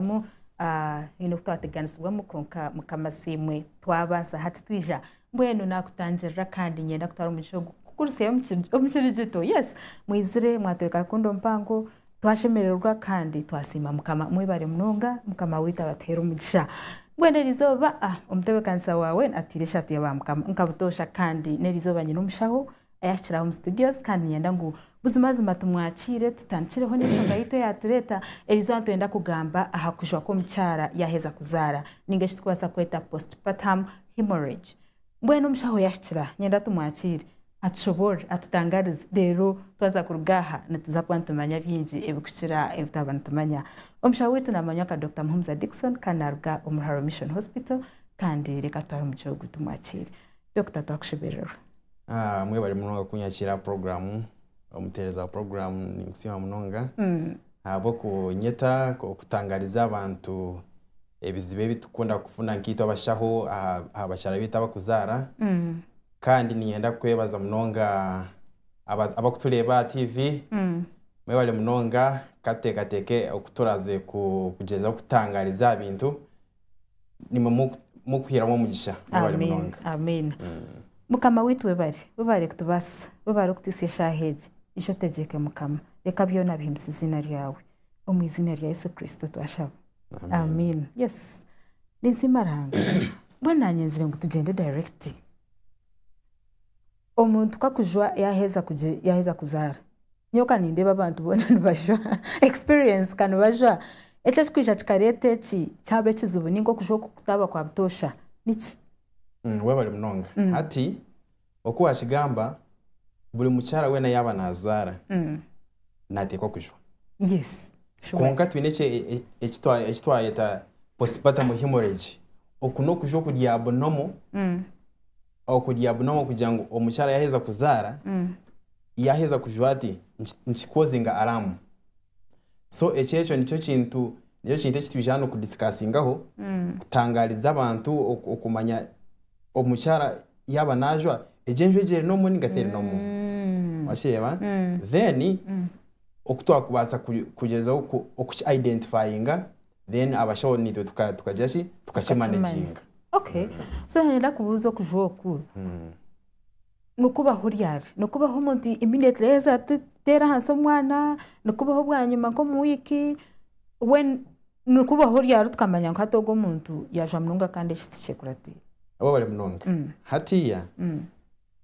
twatekamu haine oku twateganisibwamu kwonka mukama siimwe twabaasa hati twija mbwenu nakutangirira kandi nyenda kutwara omugisha ogu kukurisyayo omu kiri gito yes mwizire mwatwereka rukundo mpango twashemererwa kandi twasiima mukama mwebare munonga mukama waitu abatuheere omugisha mbwenu erizooba omutebeekanisa waawe atiire esaati ya ba mukama nka butoosha kandi n'erizooba nyine omushaho Ayahikire aha omu studios kandi niinyenda ngu buzimazima tumwakiire tutandikireho n'enshonga yaitu eyaatureeta eriizooba nitwenda kugamba aha kujwa kw'omukyara yaaheza kuzaara nainga eki tukubaasa kweta postpartum hemorrhage. Mbwenu omushaho yahikira niinyenda tumwakiire atushoboorore atutangarize reero twaza kuruga aha nituza kuba nitumanya bingi ebikukira ebi twaba nitumanya. Omushaho waitu naamanywa nka Dokita Muhumuza Dickson kandi naaruga omu Ruharo Mission Hospital kandi reka tutware omugi ogwo tumwakiire. Dokita twakushemererwa. Ah, mwebare munonga kunyakira aha program omutereza wa program ninkusiima munonga ahabw'okunyeta okutangariza abantu ebizibu ebi tukukunda kufuna nkaitwe abashaho aha aha bakyara baitu abakuzaara kandi niinyenda kukwebaza munonga aba abakutureeba aha TV mwebare munonga ka tuteekateeke oku turaaze ku kugyezaho kutangariza aha bintu nimwo mukuhiramu omugisha mwebare munonga amiina mukama waitu webare webare kutubasisa webare kutuhisya eshaaha egi ija otegyeke mukama reka byona bihimbise eziina ryawe omu iziina rya yesu kristo twashaba amiina yes ninsiima ruhanga mbwenu nanyenzire ngu tugyende direct omuntu ku akujwa yaheza kuzaara Nyowe kanindeeba abantu boona nibajwaa experience kanibajwaa eki ekikwija kikareeta eki kyaba ekizibu ninga okujwa oku kutaaba kwa butoosha niki? Webale munonga hati oku wakigamba buri mukyara weena yaaba nazaara nateekwa kujwa kwonka twine eki twayeta postpartum hemorrhage oku nokujwa okuryabunomu okurya bunamu kugira ngu omukyara yaheza kuzara yaheza kujwa ati nkikoze nga aramu so ekyo ekyo nikyo kintu nikyo kintu ekitwija hanu kudisikasingaho kutangariza abantu okumanya omukyara yaba najwa egyo enjwa egyo erinomu ninga terinomu wakireba then okutwakubasa kugyezaho ku ki identifyinga then abashaho naitwe tuka- tukagira ki tukakimanaginga Okay. So nyowe ninda kubuuza okuju oku, nikubaho ryari? Nikubaho omuntu immediately yaaheza tu- kuteera ahansi omwana, nikubaho bwanyima nk'omu wiiki, when nikubaho ryari tukamanya ngu hati ogu omuntu yaajwa munonga kandi eki tikyekuratiire? obu abari munonga hatiiya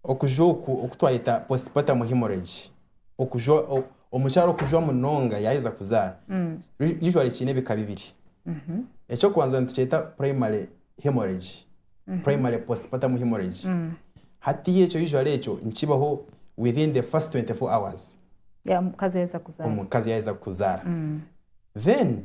Okujwa oku oku twayeta postpartum hemorrhage, okujwa omukyara okujwa munonga yaheza kuzaara, usually kiine ebika bibiri. Ekyokubanza nitukyeta primary hemorrhage, primary postpartum hemorrhage. Hati ekyo usually ekyo nikibaho within the first 24 hours omukazi yaheza kuzaara. Then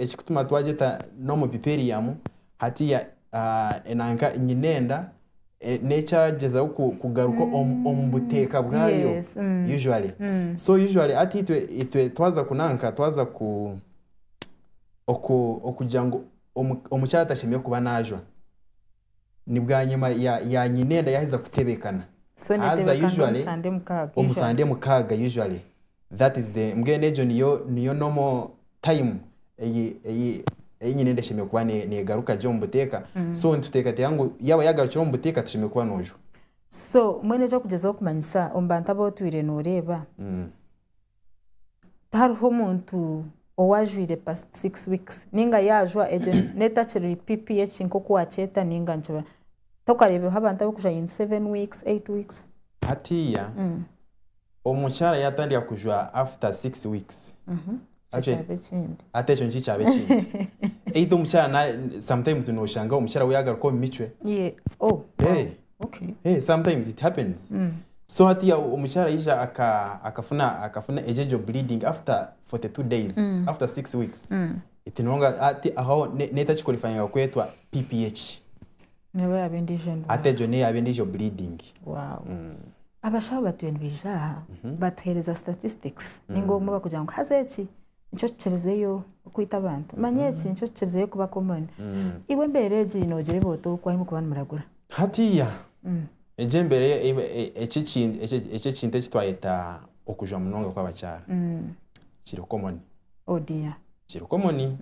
ekikutuma twagyeta normal piperium hatiya nanka nyinenda nekyagyezaho kugaruka omubuteka bwayo usually so usually hati itwe twaza ku nanka twaza kugira ngu omukyara tashemire kuba najwa. Ni bwanyima ya ya nyinenda yaheza kutebekana. So Aza netebekana omu usually Sunday mukaaga omu usually. Sunday mukaaga usually. That is the mbwenu egyo niyo niyo normal time eyi eyi eyi nyinenda eshemereire kuba ne negaruka gye omu buteeka. So nituteekateeka ngu yaba yagarukire omu buteeka toshemereire kuba nojwa. So mbwenu eki okugyezaho kumanyisa omu bantu abu otwire noreeba tihariho omuntu ou ajwaire past six weeks ninga yaajwa egyo neeba etakiri PPH nk'oku waakyeta ninga nikiba tokareebireho abantu abarikujwa in seven weeks, eight weeks. Hatiiya omukyara yaatandika kujwa after six weeks, Ekyo actually kyaba ekindi. hati ekyo nikyo kyaba ekindi. Either omukyara na- sometimes nooshanga omukyara we yaagaruka omu micwe. Ye- oh, wow. Eh, Okay. Hey, sometimes it happens so hatiya omukyara ayija aka- akafuna akafuna egyo egyo bleeding after 42 days after 6 weeks eti nonga ati aho ne- netakiqualifyinga kwetwa pph Neba yaba endijo ndwara. ate egyo neyaba endijo bleeding Wow. Abashaho batuye nibaija aha batuheereza statistics ninga obumwe bakugira ngu haza eki nikyo kikirizeyo okwita abantu manya eki nikyo kikirizeyo kuba common mm. iwe embeera egi nogireeba ota oku ahi mukuba nimuragura hatiya mm. egi embeera e, e, eki ekintu eki twayeta okujwa munonga kw'abakyara mm. kiri common oh dear kiri common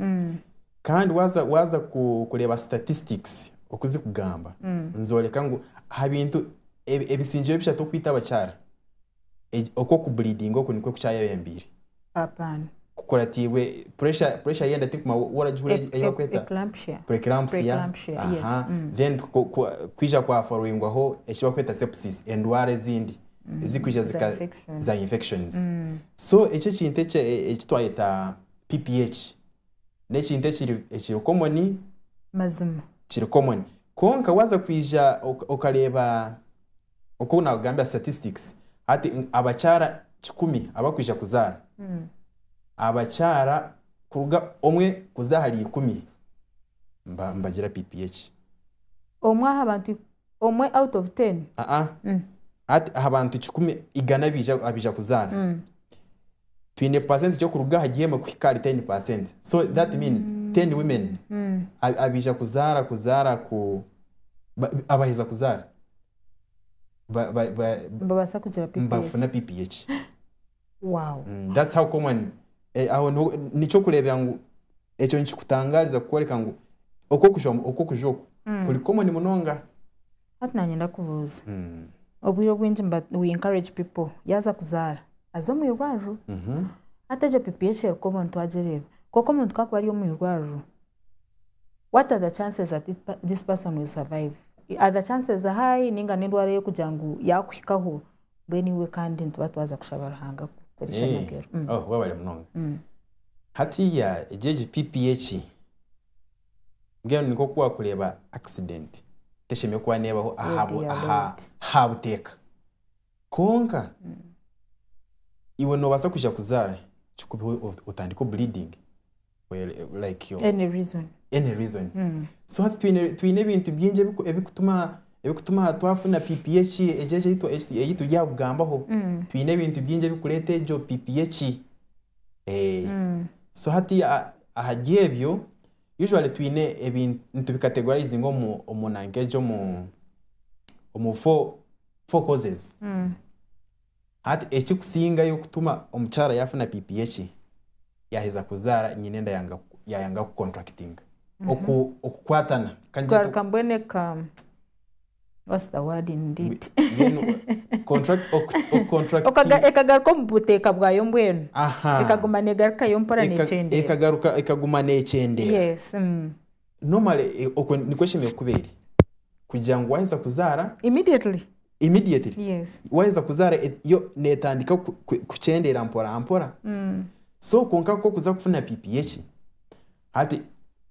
kandi waza waza kureeba statistics okuzikugamba nzoreka ngu aha bintu ebisingire bishatu okwita abakyara Egi- Okwo kubulidinga oku nikwe kukyayebembeire. Apan. Kukuratiibwe pressure pressure y'enda tirikuma wa- waragihura Ec- ei ec- bakweta Eclampsia. preeclampsia. Preeclampsia, Aha. yes, mm. Then ku- ku- ku- kwija kwa followingwaho eki bakweta sepsis endwara ezindi ezikwija za zika infection. za infections. So eki ekintu eki e- eki twayeta PPH n'ekintu ekiri ekiri common Mazima. kiri common. Kwonka waza kwija oka- okareeba. oku nakugambira statistics hati abakyara kikumi abakwija kuzaara abakyara kuruga omwe kuza ahari ikumi nibagira pph. Omwe aha bantu omwe out of ten? Aa hati aha bantu kikumi igana abaija kuzaara twine percentage okuruga ahari emwe kuhika ahari ten percent so that means ten women abaija kuzaara kuzaara ku abaheza kuzaara. ba- ba- ba- nibabaasa kugira pipi nibafuna egi pipi egi wow Mm, that's how common eh, aho niho- nikyo kureebera ngu ekyo nikikutangaariza kukworeka ngu okw'okuja okw'okuja oku kuri common munonga hati nanyenda kubuuza Mm, obwire obwingi mba we encourage people yaaza kuzaara aze omu irwariro mhm. hati egyo pipi egi eri common twagireeba kwonka omuntu ku akuba ari omu irwariro what are the chances that this person will survive are the chances high ninga n'endwara ey'okugira ngu yaakuhikaho mbwenu iwe kandi nituba twaza kushaba ruhanga kukora Eh, ekyamagero Mm. oh, wabare munonga Mm. hatiya egi egi pipi eki mbwenu nikwo kuba wakureeba accident teshemereire kuba neebaho aha bu- Lady ya aha- Lord. aha buteeka Kwonka iwe nobasa kwija kuzara kikubeho otandike obleeding like any reason any reason so hati twine ebintu bingi ebikutuma twafuna pipi eki eyituri aha kugambaho twine ebintu bingi ebikureta egyo pipi eki so hati ahari ebyo usually twine ebintu nitubi categorizinga omu nanka egyo omu four. four causes. Hati ekikusingayo kutuma omukyara yafuna pipi yekye yaheza kuzaara nyina enda yanga yayanga ku contractinga oku okukwatana kandi kyatu- kugaruka mbwenu eka what's the word in it mbwenu contract oku- oku- contracting- Okaga- ekagaruka omu buteeka bwayo mbwenu Aha. ekaguma negarukayo mpora Eka- nekyendera ekagaruka ekaguma nekyendera. yes mm. Normally eh, okwo nikwo eshemereire kuba eri kugira ngu waheza kuzaara Immediately. immediately Yes. waheza kuzaara e- yo netandika ku- ku- kukyendeera mpora mpora Mm. so kwonka kwo kuza kufuna pipi yeki hati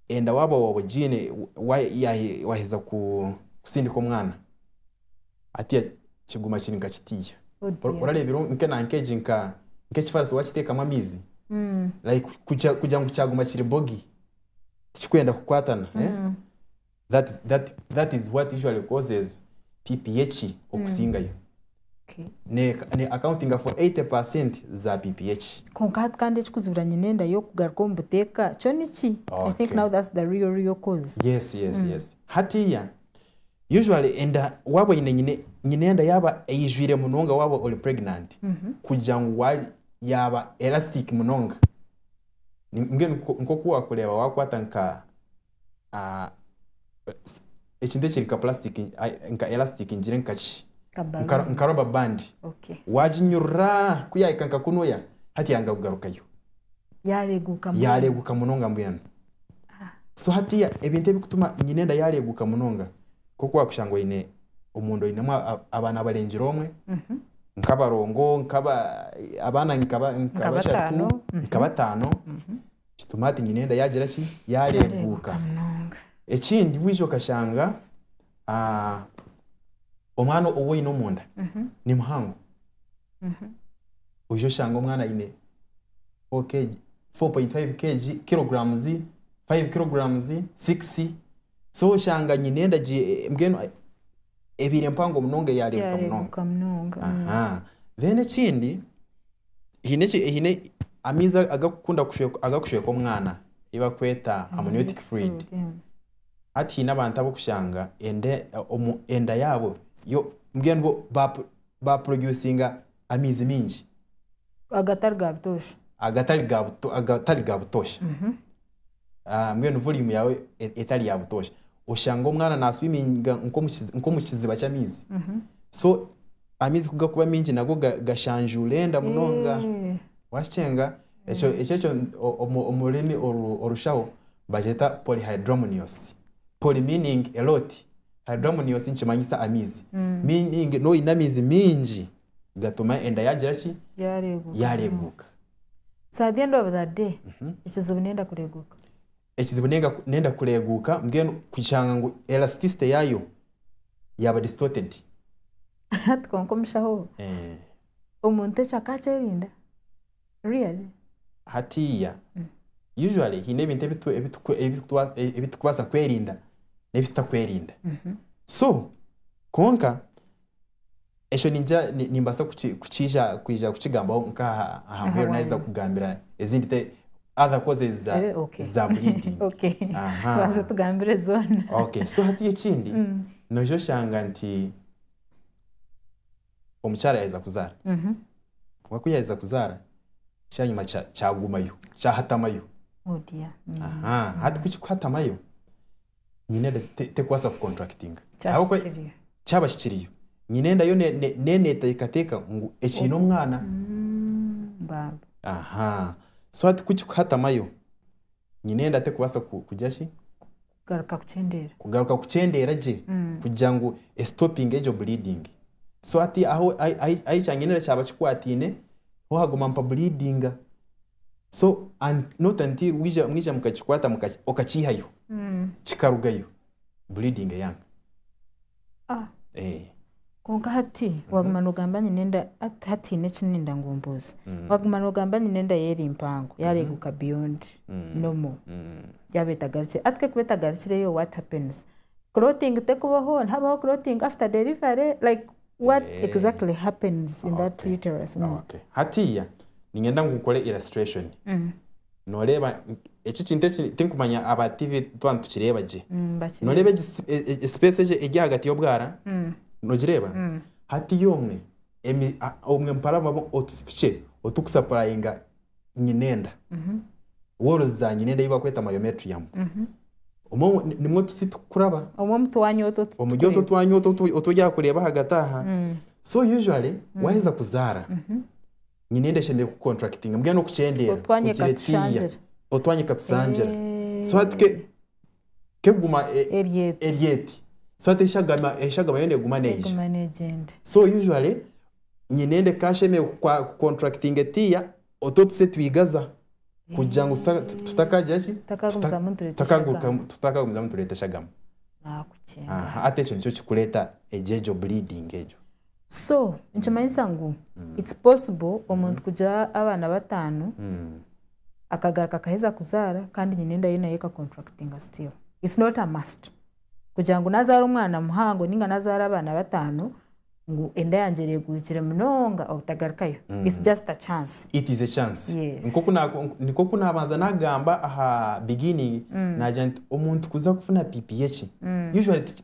enda waaba waaba ogiine wa- yahe- waheza ku- kusindika omwana hatiya kiguma kiri nka kitiiya Oh Ora- dear. orareebire nke na nkegi nka nk'ekifaarasi wakiteekamu amaizi Mm. like kukya- kugira ngu kyaguma kiri bogi tikikwenda kukwatana eh? that, is, that, that is what usually causes pph okusingayo Okay. ne, ne accounting for 80 za pph kwonka hati kandi ekikuzibira nyine enda y'okugaruka omu buteeka kyo niki i think Okay. now that's the real real cause yes yes yes hatiya usually enda waba oyine nyine nyine enda yaba eyijwire munonga waba ori pregnant kugira ngu wa- yaba elastic munonga mbwenu nk'oku waakureeba waakwata nka ekintu ekiri nka purasitika nka elasitiika ngire nka ki nka roba bandi waaginyurura ku yaahika nka kunuya hati yanga kugarukayo yaareeguka munonga mbwenu so hatiiya ebintu ebirikutuma enyine enda yaareeguka munonga nk'oku waakushanga oine omu nda oinemu a- a- abaana abarengire omwe nk'abarongo nk'aba abaana nka ba- nka Nka bashatu bataano, mhm. nka bataano kituma hati nyine enda yaagira ki yaareeguuka munonga ekindi waija okashanga ah, omwana ou oine omu nda ni muhango oija oshanga omwana aine 4 kg 4.5 kg kilograms 5 kilograms 6 So oshanga nyine endagi e- e- mbwenu e- ebaire mpango munonga eyareebuka munonga yareebuka munonga mm. aha then ekindi haine eki- haine amaizi agakukunda kushweka agakushweka omwana ei bakweta amniotic fluid Mm. hati haine abantu ab'okushanga enda omu enda yaabo yo mbwenu bo ba ba producinga amaizi mingi agatari ga butoosha agatari ga buto agatari ga butoosha mbwenu volume yawe etari ya butosha oshanga omwana na swiminga nkomu kiziba ky'amaizi mhm. so amaizi kugakuba mingi nago gashanjuura enda munonga eh. wakicenga ekyo eh. ekyo omu rurimi orushaho bagyeta polyhydramnios poly meaning a lot hydramnios nikimanyisa amaizi mm. meaning noyine amaizi mingi gatuma enda yagira ki Yaareeguka. yaareeguuka So at the end of the day, ekizibu nenda kureeguka. ekizibu nenga- nenda kureeguuka mbwenu kushanga ngu elasticity yaayo yaaba distorted Hati kwonka omushaho ogu, Eh, omuntu ekyo akakyerinda? Really? hatiiya usually haine ebintu ebitu- ebitu- ebitukwa- ebitukubaasa kwerinda n'ebitutakwerinda so kwonka Ekyo niija, nimbaasa kukiija, kwija kukigambaho nk'aha aha muheru naaheza kugambira ezindi te, other causes za, za bleeding. Okay. Aha. Banza otugambire zoona. Okay. So hati ekindi, noija oshanga nti omukyara yaaheza kuzaara. Kwonka ku yaaheza kuzaara, kyanyima kya, kyagumayo, kyahatamayo. Oh dear. Aha. Hati ku kirikuhatamayo. nyine enda te- terikubaasa kucontractinga Kyaba Ahabw'okuba- kikiriyo. kyaba kikiriyo nyine enda yo ne- ne- ne- neeteekateeka ngu ekiine omwana Baaba. aha so hati ku kikuhatamayo nyine enda terikubaasa ku- kugira ki Garuka kukyendeera. kugaruka kukyendeera gye kugira ngu esitopinge egyo bleeding so hati ahu ahi- ahi- ahi kyangenera kyaba kikwataine ho haguma mpabuliidinga so and not until wija mwija mukakikwata muka- okakiihayo Mm. kikarugayo bleeding eyanga Ah. Eh, kwonka hati waguma nogamba nyine enda hati- hatiine eki ninda ngu mbuuze mm, waguma nogamba nyine enda ye eri mpango yareeguka beyond mm, normal mm. yaba etagarukire ati kekuba etagarukireyo what happens clothing tekubaho nihabaho clothing after delivery like What exactly happens in that Okay. uterus? Mm. Okay. hatiya ninyenda ngu nkore illustration noreeba eki kintu eki tinkumanya aba tv tuba nitukireeba gye Mm, bakiri- noreeba egi sp- e- e- space egi eri ahagati y'obwara nogireeba hatiya omwe emi- a- omwe mparamu otu- tukye otukusapurayinga nyinenda worozi za nyinenda ei bakweta myometrium omwo nimwo otusi tukukuraba omwo omu twanya otu otu omuri otu tukureba. twanya otu otu- otu oryaha kureeba ahagati aha so usually waheza kuzaara nyinenda eshemereire kucontractinga mbwenu n'okukyendeera Otwanya kugira etiiya ekatushangira. otwanya ekatushangira so hati ke keguma eri eti so hati enshagama enshagama yo neguma neyija eguma negyenda so usually nyine ende cash emwe ku contractinga etiiya otu otuse twigaza kugira ngu tuta tutakagira ki tutakagumizamu nitureta eshagama tutakagurukamu tutakagumizamu nitureta eshagama aha nakucenga hati ekyo nikyo kikureeta egyo egyo bleeding egyo. so nikimanyisa ngu its possible omuntu kugira abaana bataano akagaruka akaheza kuzaara kandi nyina enda ye nayo ekacontractinga still its not a must kugira ngu nazaara omwana muhango ninga nazaara abaana bataano ngu enda yangye ereguhikire munonga obutagarukayo its just a chance it is a chance Yes. Nkoku na- nikwo ku nabanza nagamba aha beginning nagira nti omuntu kuza kufuna pipi yeki usually ti-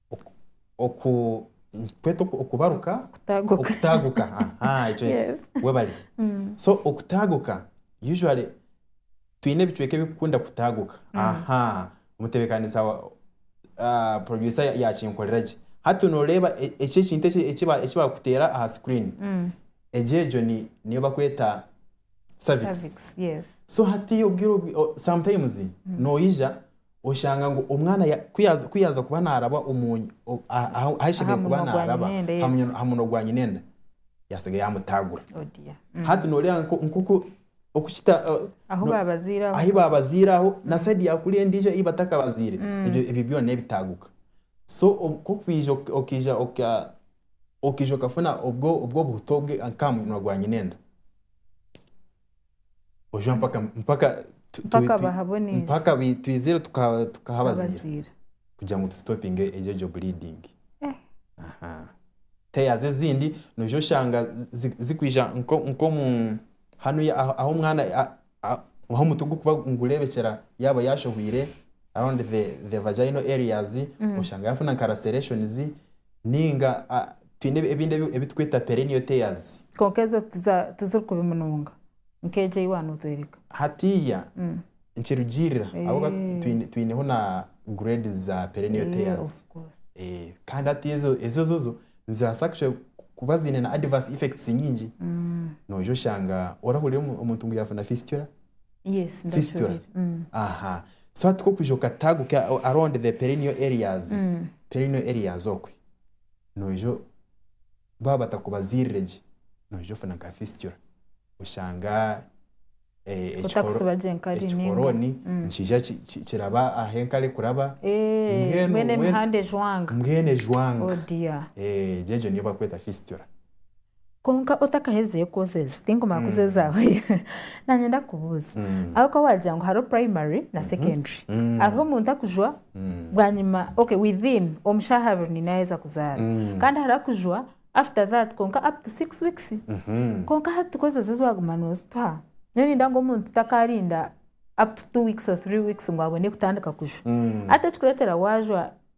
oku- oku- nikikweta oku- okubaruka Kutaguka. okutaguka aha ekyo Yes. webale so okutaguka usually twine ebicweka ebikukunda kutaguka aha omutebekanisa wa ah, producer ya- yakinkorera gye hati noreeba e- eki ekintu eki- eki ba- eki bakuteera aha screen egyo egyo ni- niyo bakweta cervix Cervix, yes. so hatiiya obwire obwi- o- sometimes noija oshanga ngu omwana ya- ku yaaza- ku yaaza kuba naaraba omu ny- o- aha- aha- ahu ashemereire Aha kuba munwa gwa naaraba nyinenda, aha yes. munwa- aha munwa gwa nyinenda yaasinga yaamutaagura Oh dear. Mm. hati nooreeba nko- nk'oku oku kita eh, Ahu no- baabaziire aho. ahi baabaziire aho na sayidi ya kuri endiijo ei batakabaziire ebyo ebyo byona n'ebitaaguka so obu- ku okwija oka- okaija oka- okaija okafuna obwo obwo obuhuta obwe nk'aha munwa gwa nyinenda. oja mpaka mpaka tu- tu- Mpaka tu- bahaboneze. mpaka bi- twizire tuka- tukahabaziira Abaziira. kugira ngu tusitopinge egyo egyo bleeding Eh. Aha. tears ezindi noija oshanga zi- zikwija nko- nkomu hanu ya- ahu ahu omwana a- a- ahu omutwe gukuba nigureebekyera yaaba yaashohwire around the the vaginal areas oshanga yaafuna nka lacerations Nainga twine ebindi ebi turikweta perennial tears. Kwonka ezo tiziri kubi munonga nk'egyo ei waanotworeka. Hatiiya nikirugiirira ahabw'okuba twineho na grades za perennial tears. Kandi hati ezo ezozo nizibaasa kuba ziine na adverse effects nyingi. Noija oshanga orahurira omuntu ngu yaafuna fistula. Yes, fistula ndakihurira. Mm. aha so hati kokwija okataguka o- around the perineal areas Mm. perineal areas okwe noija o- baaba batakubazirire gye noija ofuna nka fistula oshanga eh, ekikoro- Otakusiba gye nkari ninga. ekikoroni Mm. nikiija ki- ki- kiraba aha enkari kuraba Eh, Mbwenu- mbwenu emihanda ejwanga. mbwenu ejwanga Oh dear. Eh, egyo egyo niyo bakweta fistula Kwonka otakaheerizeyo kwozeeza, tinkumanya ku zeezaahoyo, naanye ndakubuuza, ahabw'okuba waagira ngu hariho primary na secondary, hariho omuntu akujwa bwanyima, okay within omu shaaha abiri niinye naaheza kuzaara, kandi hariho akujwa after that kwonka up to six weeks, kwonka hati ku ezo ezi waaguma noozituha, nyowe niinda ngu omuntu takaarinda up to two weeks or three weeks ngu abone kutandika kujwa, hati ekirikureetera waajwa.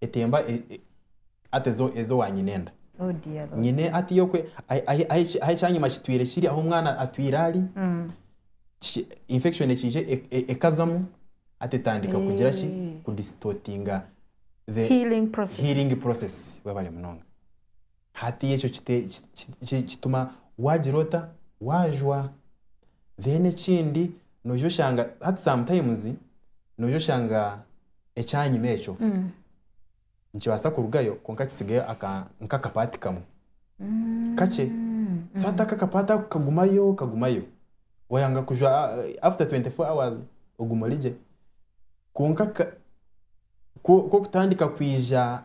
etemba ata ezo wa nyina enda. Oh dear Lord. Nyina ata iyokwe ahi ekyanyima kitwire kiri ahu omwana atwire ari mm. infection ekije e, e, ekazamu ata etandika eh. kugira ki kudistortinga the healing process, healing process. webale munonga Hati ekyo kituma wagira ota? Wajwa. Then ekindi noija oshanga hati sometimes noija oshanga ekyanyima ekyo nikibasa kurugayo kwonka kitsigayo nkaka part kamwe kakye so hati ako aka part ako kagumayo kagumayo wayanga kujwa after twenty four hours oguma origye kwonka ko kutandika kwija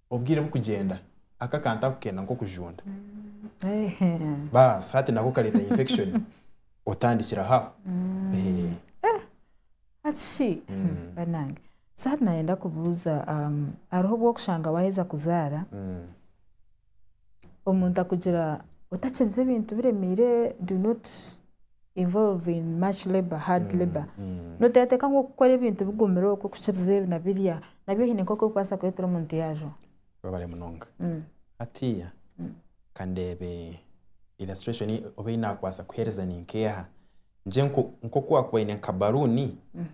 obwire bukugyenda aka akantu ntakukenda nk'okujunda baasi hati nako kareeta infection otandikira aho aho. Hati shi banange so hati nayenda kubuuza hariho obu orikushanga waaheza kuzaara omuntu akugira otakiriza ebintu biremeire do not. involve in much labour, hard mm, labour mm. noteekateeka ngu okukora ebintu bigumire okwo kukiriza ebi na birya nabyo hiine nk'oku okubaasa kureetera omuntu yaajo babare munonga mm. hatiiya mm. kandeebe illustration oba ei naakubaasa kuheereza ni nk'eha ngye nk'oku wakuba oine nka baruuni mm.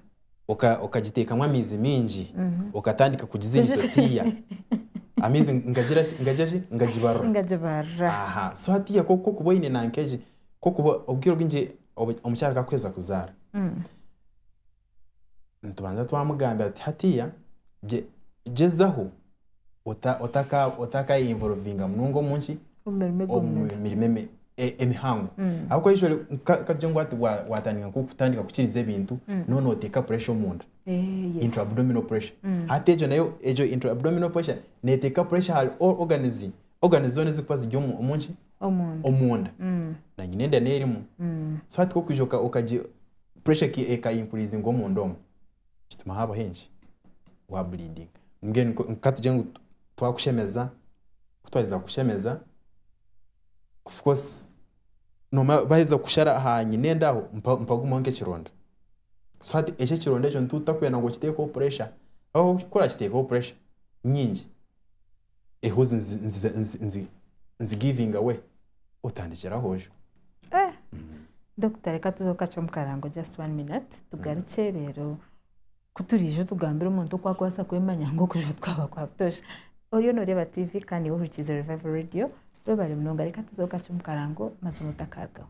okagiteekamu amaizi maingi okatandika kugizinisa otiiya amaizi ngagira ki ngagira ki ngagibarura ngagibarura aha so hatiiya ku orikuba oine nanka egi ku orikuba obwire obwingi omukyara ku arikuheeza kuzaara nitubanza twamugambira tuti hatiiya gyezaho ota- otaka- otakayeyiinvorovinga munonga omu nki Omu mirimo omu egw'omunda. mirimo emi- e- emihango ahabw'okuba usually ka- katugire ngu hati wa- watandika nko kutandika kukiriza ebintu noba noteeka puresha omunda Eh, yes. intra-abdominal pressure hati egyo nayo egyo intra-abdominal pressure neteeka pressure ahari all organs organs zoona ezirikuba ziri omu omu nki Omunda. omunda Mm, na nyina enda n'erimu mm. so hati ku okwija oka- okagi pressure eki ekayinkuriizinga omunda omu nikituma haabaho enki wa bleeding mbwenu nko- nka tugire ngu tu- twakushemeza ku twaheza kukushemeza of course noomanya baaheza kukushara aha nyina enda aho mpa- mpagumaho nk'ekironda so hati eki ekironda ekyo nituba tutakwenda ngu okiteekeho pressure ahabw'okuba ku orakiteekaho pressure nyingi. ehuzi nzi giving away otandikire ahojo. Eh Dokita reka tuze kukacwa omukarango just one minute tugarukye rero kuturiija otugambire omuntu oku akubaasa kwemanya ngu okujwa tikwaaba kwa butosha. Oriyo noreeba TV kandi niiwe ohurikiize Revival Radio. Webare munonga reka tuze kukacwa omukarango mazima otakarugaho.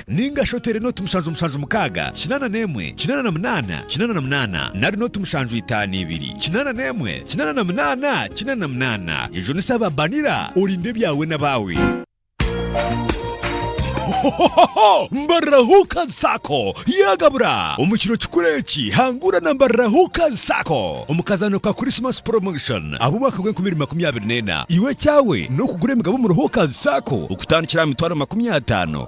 Ninga shi oteere nooti mushanju mushanju mukaaga, kinaana n'emwe, kinaana na munaana, kinaana na munaana, nari nooti mushanju itaano ibiri, kinaana n'emwe, kinaana na munaana, kinaana na munaana. Jejunisa aba banira, orinde ebyawe n'abaawe. Hohohoho! Mbarira Hookers Sacco yaagabura! Omu kiro kikuru eki, hangura na Mbarira Hookers Sacco omu kazaano ka Christmas Promotion ab'omwaka gw'enkumi ibiri makumi abiri n'ena. Iwe ekyawe n'okugura emigabo omuri Hookers Sacco okutandikira aha mitwaro makumi ataano.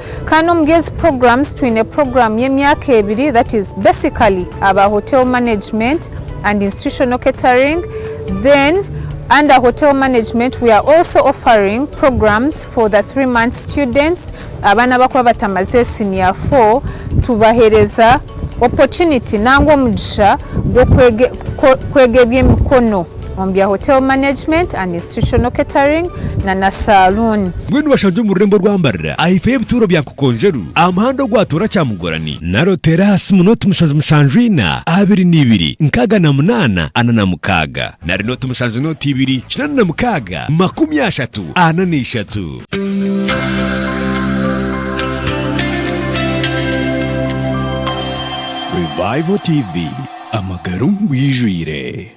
Kandi omuri ezi programs twine program y'emyaka ebiri that is basically aba hotel management and institutional catering then under hotel management we are also offering programs for the three months students abaana abakuba batamaze senior four tubahereza opportunity nangwa omugisha gw'okwega eby'emikono. omu bya Hotel Management and Institutional Catering na na Saluuni. Mbwenu bashangye omu rurembo rwa Mbarira aha ifo y'ebituuro bya Nkokonjeru aha muhanda ogwatoora Kyamugorani, naro teera aha simu nooti mushanju mushanju ina, abiri na ibiri, nkaaga na munaana, ana na mukaaga. Nari nooti mushanju nooti ibiri, kinaana na mukaaga, makumi ashatu, ana na ishatu. Revival TV, amagara omu bwijwire.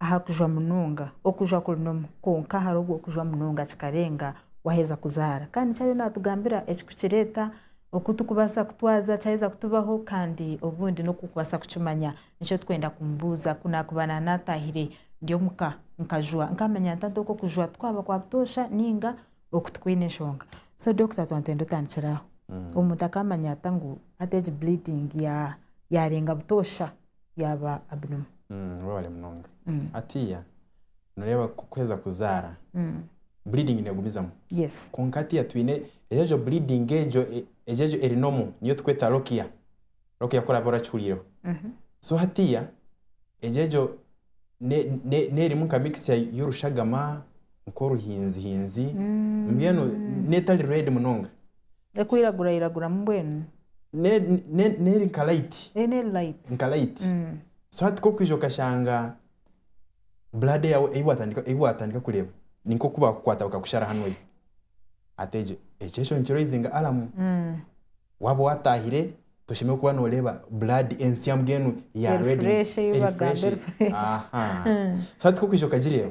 aha kujwa munonga, okujwa kuri nomwe kwonka hariho okujwa munonga kikarenga waheza kuzaara kandi nikyo ariyo natugambira ekirikukireeta oku turikubaasa kutwaza kyaheza kutubaho kandi obundi n'oku orikubaasa kukimanya nikyo turikwenda kumubuuza ku naakuba naatahire ndi omuka nkajwa nkamanya nta oku okujwa kwaba kwa butoosha nainga oku tikwine enshonga so Dokita Twantenda otandikire aho omuntu akamanya ata ngu hati egi bleeding yaarenga butoosha? yaaba Abinomu. Mm, webale munonga Mm. hatiya noreeba ku- kuheza kuzaara Mm. bleeding negumizamu Yes. kwonka hatiya twine egyo egyo bleeding egyo e- egyo egyo eri nomu niyo tukweta lokia lokia kworaba orakihuriireho Mhm. so hatiya egyo egyo ne- ne- nerimu nka mixture y'orushagama nk'oruhinzihinzi Mm. mbwenu netari red munonga Erikwiragurairaguramu mbwenu? N'eri nka layiti. Ee, n'eri layiti. Nka layiti. So hati ku orikuija okashanga blood yaawe ei waatandika ei waatandika kureeba ni nk'oku baakukwata bakakushara hanu oihi. Hati egyo ekyo ekyo nikiraizinga alamu. Waaba waataahire toshemereire kuba nooreeba blood ensya mbwenu ya red. Eri fureeshi ei bagambe eri fureeshi. Aha. So hati ku orikuija okagireeba.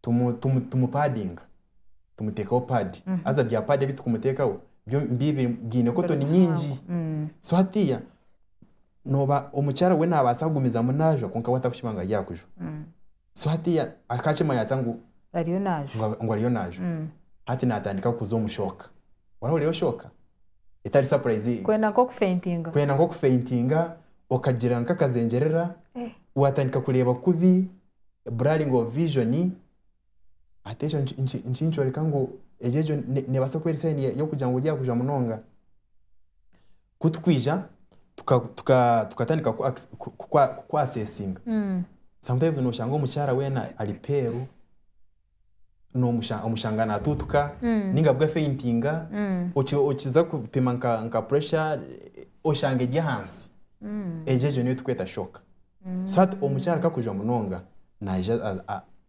tumu tumu tumupadinga tumutekaho pad haza bya pad ebi tukumutekaho byo bibi byine cotton nyingi so hatiya noba omukyara we nabasa kugumizamu najwa kwonka we atakushuba ngu ari aha kujwa so hatiya akakimanya ata ngu ariyo ngu najwa a- ngu ariyo najwa hati natandika kuza omu shock wahurirayo shock etari surprise eyo kwenda nk'okufentinga kwenda nk'okufentinga okagira nk'akazengyerera watandika kureeba kubi blurring of vision hati ekyo niki- niki- nikinkyoreka ngu egyo egyo ne- nebaasa kuba eri sign ya- y'okugira ngu ryakujwa munonga ku tukwija tuka tuka tukatandika ku- acc- ku- ku- ku- ku assessinga sometimes noshanga omukyara weena ari peeru. nomushanga natuutuka ninga bwe afeintinga okiza kupima nka pressure oshanga eri ahansi egyo egyo niyo tukweta shock so hati omukyara ku arikujwa munonga nayija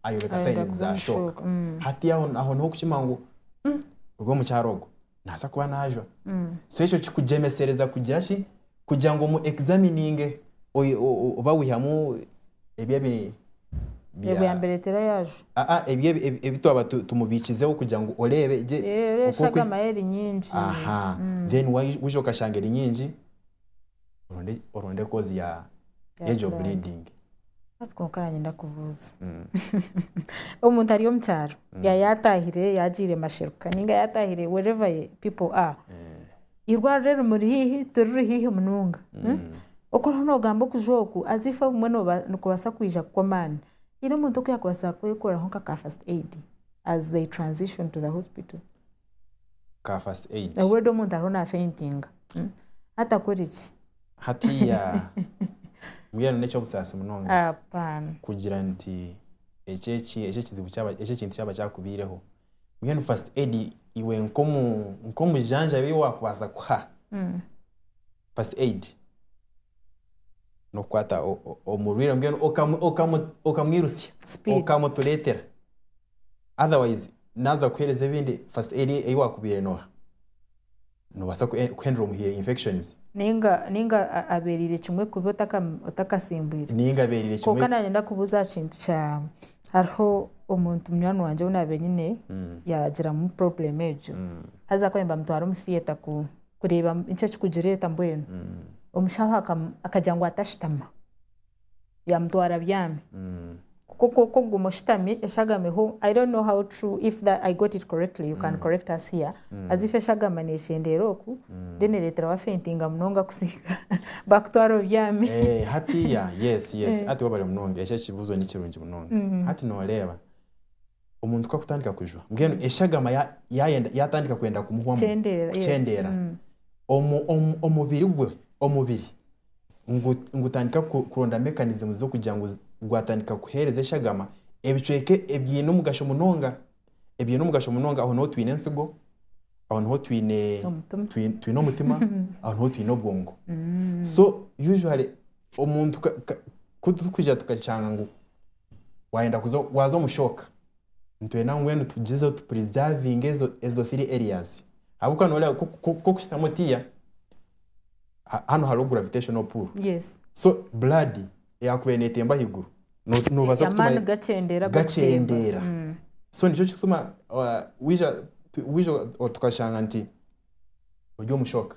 ayoreka signs za shock hati aho niho orikukimanya ngu ogu omukyara ogu naza kuba najwa so ekyo kikugyemesereza kugira ki kugira ngu omu examininge oyi- o- o- oba wihamu ebi ebi bya- ebyo yambireetera yaajwa Ah, ah, ebi ebi- ebi- ebi twaba tu- tumubiikizeho kugira ngu oreebe gye Eh, oku- oreeshaga oku- amahe eri nyingi aha then wai- waija okashanga eri nyingi oronde oronde kozi ya Ya y'egyo blood. bleeding Hati kwonka nanyenda kubuuza Mm. omuntu ari omu kyaro ya yatahire yagiire masheruka ninga yatahire wherever ye people are Eh, irwariro rimuri hiihi tiriri hiihi munonga mm. okoroho nogamba okuja oku as if obumwe noba- nikubaasa kwija kukwa amaani haine omuntu oku yakubaasa kwekoreraho nka ka first aid as they transition to the hospital ka first aid. Obweda omuntu ariho na faintinga atakore ki? Hatiiya mbwenu n'eky'obusaasi munonga kugira nti ekyo eki ekyo ekizibu kyaba ekyo ekintu kyaba kyakubaireho mbwenu first aid iwe nk'omu nk'omujanjabi ei waakubaasa kuha first aid n'okukwata omurwaire mbwenu okamu okamu okamwirutsya okamutureetera. otherwise naaza kukuheereza ebindi first aid ei waakubaire nooha noobaasa kuhendura omuhire infections. Ninga ninga abeereire kimwe kubi otaka otakasimbwire. Ninga abeereire kimwe. Kwonka naanye ndakubuuza aha kintu kya hariho omuntu munywani wangye ou naabaire nyine yaagiramu problem egyo haza akaba naagira bamutware omu theatre ku kureeba nki ekirikugireeta mbwenu omushaho akagira ngu atashitama. yamutwara abyami kuko kwokwo kuguma oshutami eshagameho i don't know how true if that i got it correctly you can mm. correct us here mm. as if eshagama nekyendeera oku mm. then ereetera wafentinga munonga kusinga bakutwara obyami eh, hati ya yes yes eh. hati wabare munonga ekyo ekibuzo ni kirungi munonga mm. hati noreeba Omuntu ku akutandika kujwa, mbwenu eshagama yaatandika kwenda kumuhwamu, kukyendeera, omubiri gwe, omubiri gutandika kuronda mekanizimu z'okugira ngu gwatandika kuheereza eshagama ebicweka ebiine omugasho munonga. Ebiine omugasho munonga, aho niho twine entsigo, aho niho twine omutima, aho niho twine obwongo. So usually omuntu ku turikwija tukakyanga ngu. wayenda kuza waza omu shock nitwenda mbwenu tugyezeho tu preservinge ezo ezo three areas ahabw'okuba nooreeba ku- ku- ku okuhitamu otiiya ha- hanu hariho gravitational pull yes so blood eyakubaire neetemba ahaiguru no- noobaza kutuma amaani gakyendeera ag'okutemba. gakyendeera Mm. so nikyo kituma uh, wija tu- wija tukashanga nti ori omu shock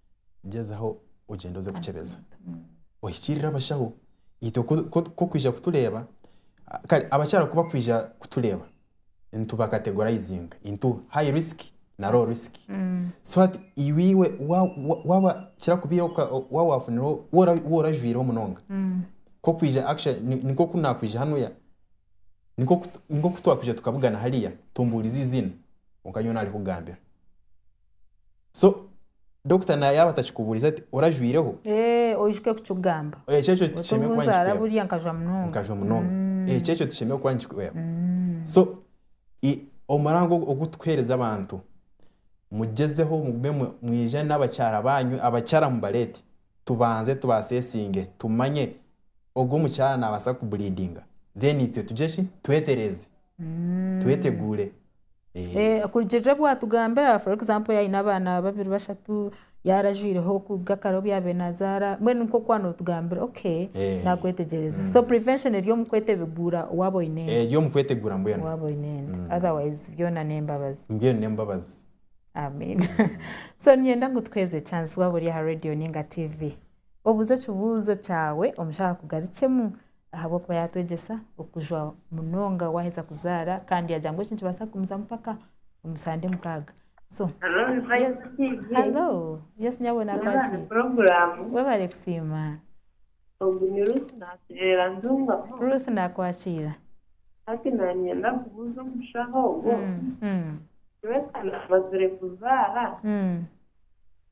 gyezaho ogyende oze kukyebeza ohikirire abashaho itwe kokwija kutureeba kare abakyara kubakwija kutureeba nituba categorizinga into high risk na low risk so hati iwe waba kirakubiire waba wafunireho waba orajwireho munonga kokwija actually nikwo kunakwija hanuya nikwo kutwakwija tukabugana hariya tombuurize eiziina kwonka nyowe narikugambira. so dokita na yaaba atakikubuurize ati orajwireho Eeh, oijuke kukigamba. ekyo ekyo Oti tikishemeire kuba nguzaara nikikuhwera buriya nkajwa munonga. nkajwa munonga ekyo ekyo tikishemeire kuba nikikuhwera so i- omurango ogu- ogu turikuheereza abantu mugyezeho mugume mu- mwijane n'abakyara baanyu abakyara mubareete tubanze tubaseesinge tumanye ogu omukyara naabaasa kuburiidinga then itwe tugye ki twetereeze. tweteguure. Kurugirira obu watugambira for example yaaba aine abaana babiri bashatu, yaaba arajwireho kuruga kare obu yaabaire naazaara, mbwenu nikwo kuba nootugambira okay naakwetegyereza. So prevention eri omu kweteguura waaba oine ente. Eri omu kweteguura mbwenu. Waaba oine ente. Otherwise byona n'embabazi. Mbwenu n'embabazi. Amen. So niinyenda ngu tukuheereze chance waaba ori aha reediyo nainga tiivi, obuuze ekibuuzo kyawe omushija akugarukyemu Ahabw'okuba yaatwegyesa okujwa munonga waaheza kuzaara kandi yaagira ngu ekyo nikibaasa kugumizamu mpaka omusande mukaaga. So, halo, Yesu nyabwona akwakire. Webale kusiima. Ogu ni Ruth naatureera Ntungamo. Ruth naakwakiira. Hati naanyenda kubuuza omushaho ogwo, Nyowe ka naamazire kuzaara,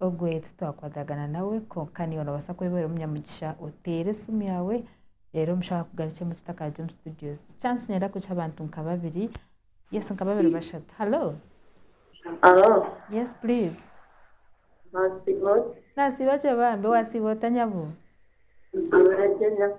Ogwe titwakwatagana nawe kwonka niiwe noobaasa kuba ori omunyamugisha oteere esimu yaawe reero omushaaho akugarukye mu kitaka hare omu situdio. Chance niinyenda kugiha abantu nka babiri. Yes nka babiri bashatu. Halo. Halo. Yes please. Naasiiba ota? Naasiiba gye bambi. Waasiiba ota nyabo? Naasiiba gye nyabo.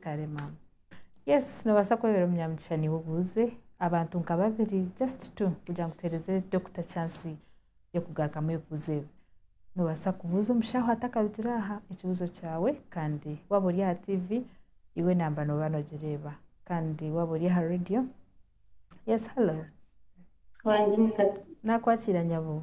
Kare mama. Yes nobaasa kwebera omunyamugisha niiwe obuuze abantu nka babiri just two kugira ngu tuhereze doctor chance y'okugarukamu ebibuuzo ebi. Nobaasa kubuuza omushaho atakarugire aha ekibuuzo kyawe kandi waaba ori aha TV iwe namba nooba nogireeba kandi waaba ori aha radio. Yes hallo. Nakwakira nyabuu.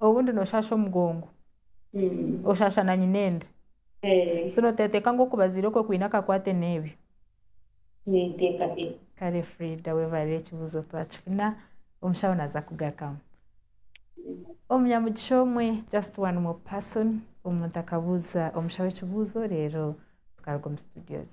Obundi noshaasha omugongo. Oshaasha na nyinendi. So noteeteeka ngu okubaziira okwe kwine akakwate n'ebyo? Kare Fridah webarire ekibuuzo twakifuna omushaho naza kugarukamu. Omunyamugisha omwe, just one more person, omuntu akabuuza omushaho ekibuuzo reero tukaruga omu studios.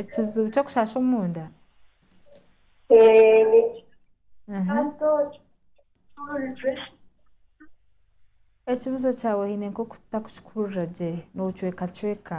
Ekizibu ky'okushasha omunda? Ekibuzo kyawe oine nk'oku tutakukikuhurira gye, noocwekacweka.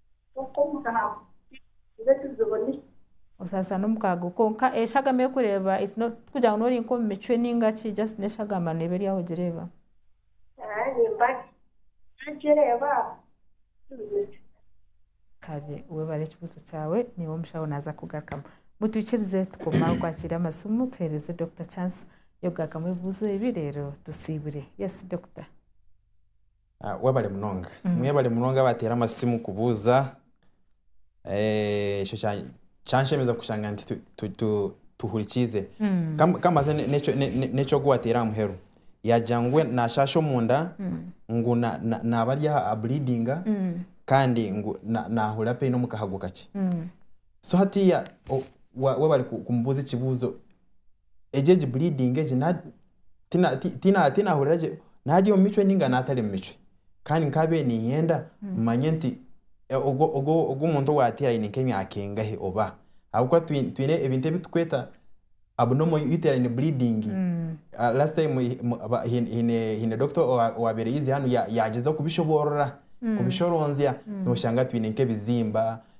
Osaasa n'omukaago kwonka eshagama erikureeba tikugira ngu n'ori nk'omu micwe nainga ki just n'eshagama neeba eri aho ogireeba. Kare webare ekibuuzo kyawe naiwe omushaho naaza kukugarukamu. Mutwikirize tukome aho kwakiira amasimu tuhereze Dokita chance y'okugarukamu ebibuuzo ebi reero tusiibure. Yes Dokita. Webale munonga. Mwebale munonga abateera amasimu kubuuza ekyo kyanshemeza kushanga nti tuhurikiize. Ka mbaze n'eki ogu wateera aha muheru yaagira ngu we naashaasha omunda ngu naaba ari aha aburiidinga kandi ngu naahurira pain omu kahago kakye. So hatiiya webale kumubuuza ekibuuzo. egyo egi bleeding egi na tina ti- tina tinahurira gye nari omu micwe ninga natari omu micwe, kandi nkabiire niinyenda manye nti e- ogu- ogu- ogu omuntu owaateire aine nk'emyaka engahe oba, ahabw'okuba twi- twine ebintu ebi tukweta abnormal uterine bleeding, a- last time hi- mu- ba- hi- hiine hiine doctor owa- owaabaire aizire hanu ya- yaagyezaho kubishoboorora, kubishoronzya, nooshanga twine nk'ebizimba,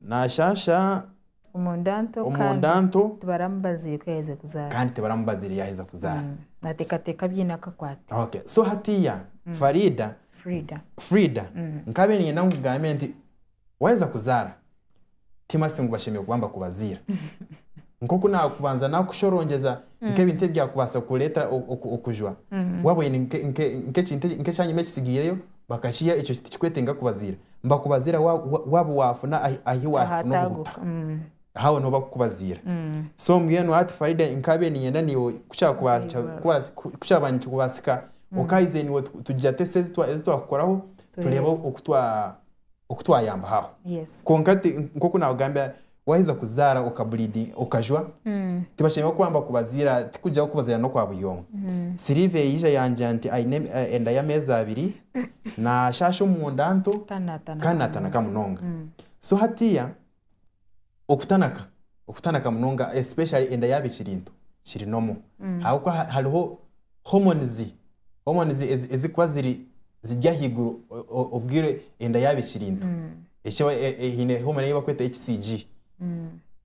Naashaasha omunda nto kandi tibaramubaziire yaaheza kuzaara. So hatiiya Fariida, Frieda, nkaabaire niinyenda ngu nkugambe nti waaheza kuzaara, ti masi ngu bashemereire kuba nibakubaziira. nk'oku naakubanza naakushorongyeza nk'ebintu ebi byakubaasa kukureetera okujwa. Waaba oine nk'ekintu ekyanyima ekitsigaireyo, bakakiha, ekyo tikikwetenga kubaziira. Nibakubaziira waaba waafuna ahu waafuna obuhuta, aho niho barikukubaziira. So mbwenu hati Faridah nkaabaire niinyenda naiwe ku kyaaba nikikubaasika, okaahiza naiwe tugira ata eseezi ezi twakukoraho tureebe oku twayambaho aho. Kwonka nk'oku naakugambira Waheza kuzaara okajwa, tibashemererwa kuba nibakubaziira, tikugyaho kubaziira n'okwa buri omwe. Sylvia yaija yangira nti aine enda y'ameezi abiri, naashaasha omunda nto kandi naatanaka munonga. So hatiiya okutanaka, okutanaka munonga especially enda yaaba ekiri nto kiri normal ahabw'okuba hariho. hormones hormones ezi- ezikuba ziri ziri ahaiguru o- o- obwire enda yaaba ekiri nto Eki aba- e- e- haine hormone ei barikweta HCG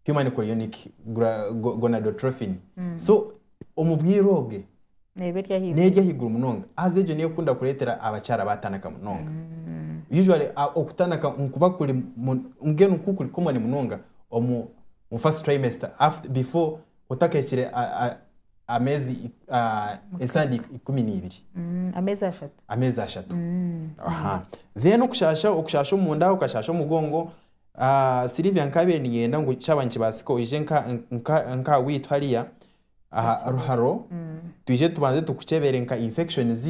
human chorionic gra- go- gonadotrophin so omu bwire obwe neeba eri ahaiguru n'eri ahaiguru munonga haza egyo niyo ekunda kureetera abakyara baatanaka munonga usually a- okutanaka nikuba kuri mu- mbwenu ku kuri common munonga omu omu first trimester aft- before otakahikire a- a- ameezi ik- ah, esande ik- ikumi n'ibiri Mm, amezi ashatu ameezi ashatu aha then okushasha okushasha omunda okashasha omugongo ah, Sylvia nkabiire ninyenda ngu kyaba nikibaasika oije nka nka nkaha waitu hariya aha ruharo twije tubanze tukukyebere nka infections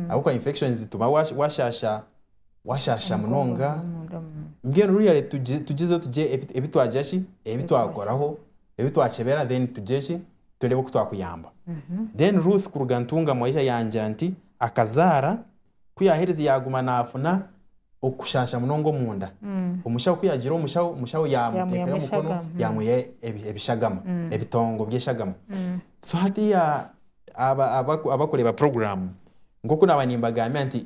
ahabw'okuba infections tuba wash- washasha washasha munonga Omunda, mm. mbwenu ruyare tugi- tugizeho tugye ebi- ebi twagira ki ebi twakoraho ebi twakyebera then tugye ki turebe oku twakuyamba. Then Ruth kuruga Ntungamo yaija yangira nti akazaara ku yaherize yaguma nafuna okushaasha munonga omunda. Omushaho ku yagiire omushaho, omushaho yamuteekayo omukono yamwiha ebishagama, ebitongo by'eshagama. So hati abakureeba puroguramu, nk'oku naba nimbagambira nti,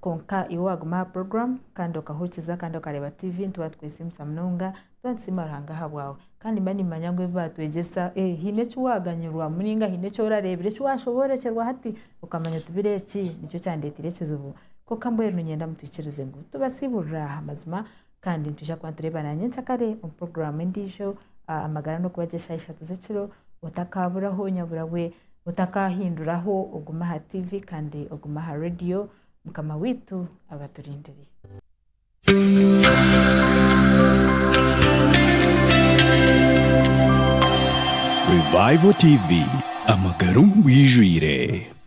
kwonka iwe waguma aha program kandi okahurikiza kandi okareba tv nituba tukwesiimisa munonga tuba nitusiima ruhanga ahabwawe kandi mba nimanya ngu ebibatwegyesa eh, haine eki waganyirwa muninga haine eki orareebire eki washoboorokyerwa hati okamanya oti biro eki nikyo kyandeeteire ekizibu kwonka mbwenu niinyenda mutwikirize ngu tubasiiburire aha mazima Kandi nitwija kuba nitureebana nyenkyakare omu puroguraamu endiijo ah, amagara n'okuba gye shaaha ishatu z'ekiro otakaaburaho nyabura we otakaahinduraho ogume aha tiivi kandi ogume aha radiyo mukama waitu abaturindire Revival TV amagara omu bwijwire.